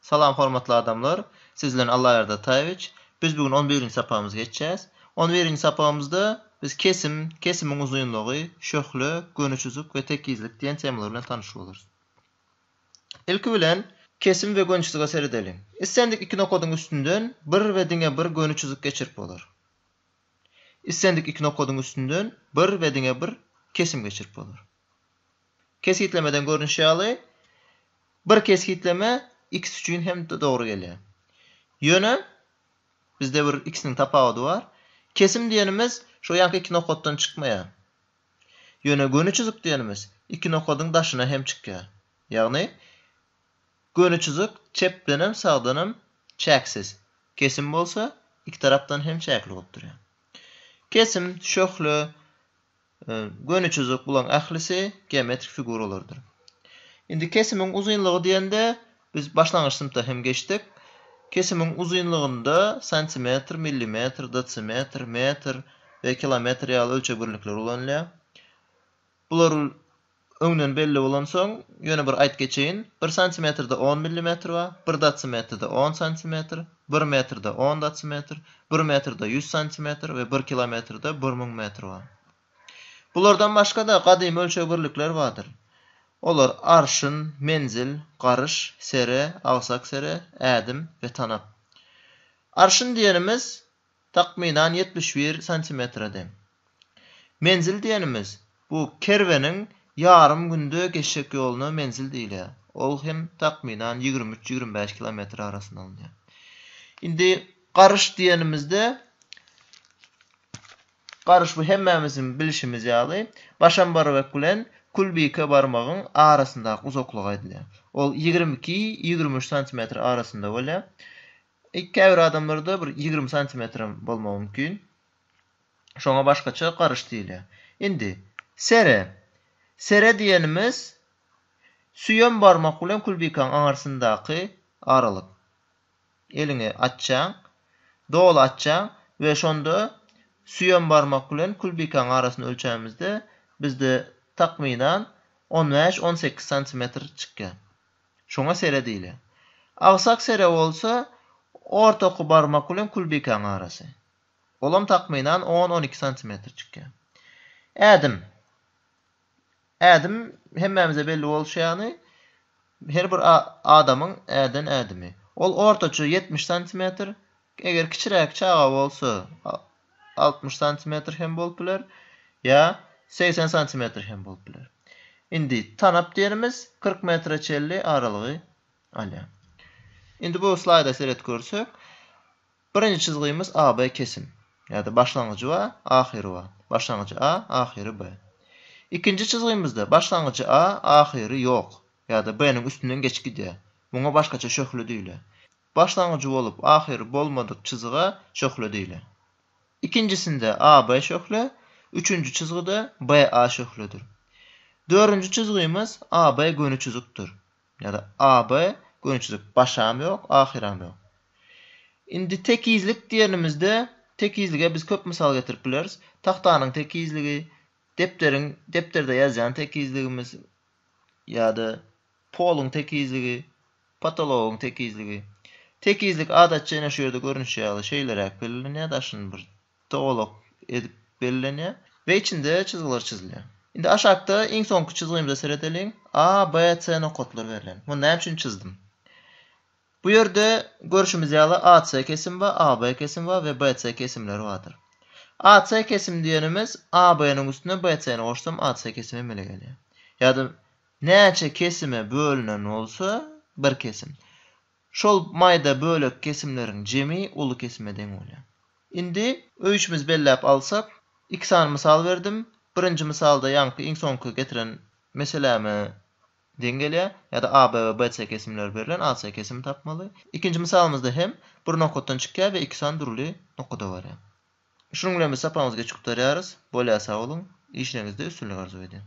Salam hormatly adamlar! Siz bilen Allaýardy Ataýewiç. Biz bu gün on birinji sapagymyzy geçýäs. On birinji sapagymyzda biz kesim, kesimiň uzynlygy, şöhle, göni çyzyk we tekizlik diýen temalar bilen tanyş bolarys. Ilki bilen, kesim we göni çyzyga seredeliň. Islendik iki nokadyň üstünden bir we diňe bir göni çyzyk geçirip bolar. Islendik iki nokadyň üstünden bir we diňe bir kesim geçirip bolar. Kesgitlemeden görnüşi ýaly, bir kesgitleme x üçin hem dogry gelýär. Ýöne, bizde bir x-niň tapawudy bar. Kesim diýenimiz şo ýanky iki nokatdan çykmaýar. Ýöne göni çyzyk diýenimiz iki nokadyň daşyna hem çykýar. Ýagny, göni çyzyk çepden hem, sagdan hem çäksiz. Kesim bolsa, iki tarapdan hem çäkli bolup durýar. Kesim, şöhle, Göni çyzyk, bularyň ählisi geometrik figuralardyr. Indi kesimiň uzynlygy diýende, biz başlangyç synpda hem geçdik. Kesimiň uzynlygynda santimetr, millimetr, desimetr, metr we kilometr ýaly ölçeg birlikleri ulanylýar. Bular Öňden belli bolansoň, ýöne bir aýt geçeýin, bir santimetrde on millimetr bar, bir datsimetrde on santimetr, bir metrde on datsimetr, bir metrde ýüz santimetr we bir kilometrde bir müň metr bar. Bulardan başga-da gadymy ölçeg birlikleri bardyr. Olar arşyn, menzil, garyş, sere, agsak sere, ädim we tanap. Arşyn diýenimiz Takmynan ýetmiş bir santimetre deň. Menzil diýenimiz, bu kerweniň ýarym günde geçjek ýoluna menzil diýilýär. Ol hem takmynan ýigrimi üç, ýigrimi bäş kilometr arasynda alynýar. Indi garyş diýenimizde, garyş bu hemmämiziň bilşimiz ýaly, Başambarybek bilen Külbike barmagyň arasyndaky uzaklyga aýdylýar. Ol ýigrimi iki, ýigrimi üç santimetr arasynda bolýar. E käbir adamlarda bir ýigrimi santimetrem bolmagy mümkin. Şoňa başgaça garyş diýilýär. Indi, sere. Sere diýenimiz süýem barmak bilen kulbikaň aňarsyndaky aralyk. Eliňi açjaň, doly açjaň we şonda süýem barmak bilen kulbikaň arasyny ölçämizde bizde takmynan on bäş-on sekiz santimetr çykýar. Şoňa sere diýilýär. Agsak sere bolsa, ortaky barmak bilen külbikäň arasy. Olam takmynan on-on iki santimetr çykýar. Ädim. Ädim, hemmämize belli bolşy ýaly, her bir adamyň äden ädimi. Ol ortaça ýetmiş santimetr, Eger kiçiräk çaga bolsa altmyş santimetr hem bolup biler, ýa segsen santimetr hem bolup biler. Indi tanap derimiz kyrk metre çenli aralygy alýar. Indi bu slaýda seret görsek, birinji çyzgymyz AB kesim. Ýa-da başlangyjy bar, ahyry bar. Başlangyjy A, ahyry B. Ikinji çyzgymyzda başlangyjy A, ahyry ýok. Ýa-da B-niň üstünden geçip gidýär. Muňa başgaça şöhle diýilýär. Başlangyjy bolup, ahyry bolmadyk çyzyga şöhle diýiler. Ikinjisinde AB şöhle, üçünji çyzgy-da BA şöhledir. Dördünji çyzgymyz AB göni çyzykdyr. Ýa-da AB göni çyzyk, başam ýok, ahyram ýok. Indi tekizlik diýenimizde, tekizlige biz köp mysal getirip bileris. Tagtanyň tekizligi, depderiň, depderde ýazýan tekizligimiz ýa-da Poluň tekizligi, potologyň tekizligi. Tekizlik adatça ine şu ýerde görnüşi ýaly şeýleräk bellenilýär, daşyny bir togalak edip bellenýär we içinde çyzgylar çyzylýar. Indi aşakda iň soňky çyzgymyza seredeliň. A, B, C nokatlar berlen. Muny näme üçin çyzdym? Bu ýerde görşümiz ýaly AC kesimi bar, AB kesimi bar we BC kesimleri bardyr. AC kesimi diýenimiz AB-niň üstüne BC-ni goşsam AC kesimi emele gelýär. Ýa-da Näçe kesime bölünen bolsa, bir kesim. Şol maýda bölek kesimleriň jemi uly kesime deň bolýar. Indi öýçümiz belläp alsak, iki sany mysal berdim. Birinji mysalda ýaňky iň soňky getiren meseläme deň gelýär. Ýa-da A, B we B, C kesimleri berlen, A, C kesimi tapmaly. Ikinji mysalymyzda hem bir nokatdan çykýar we iki sany dürli nokada barýar. Şunuň bilen biz sapagymyzy geç gutarýarys. Bolýa sag boluň. Işleriňizde üstünlik arzuw edýän.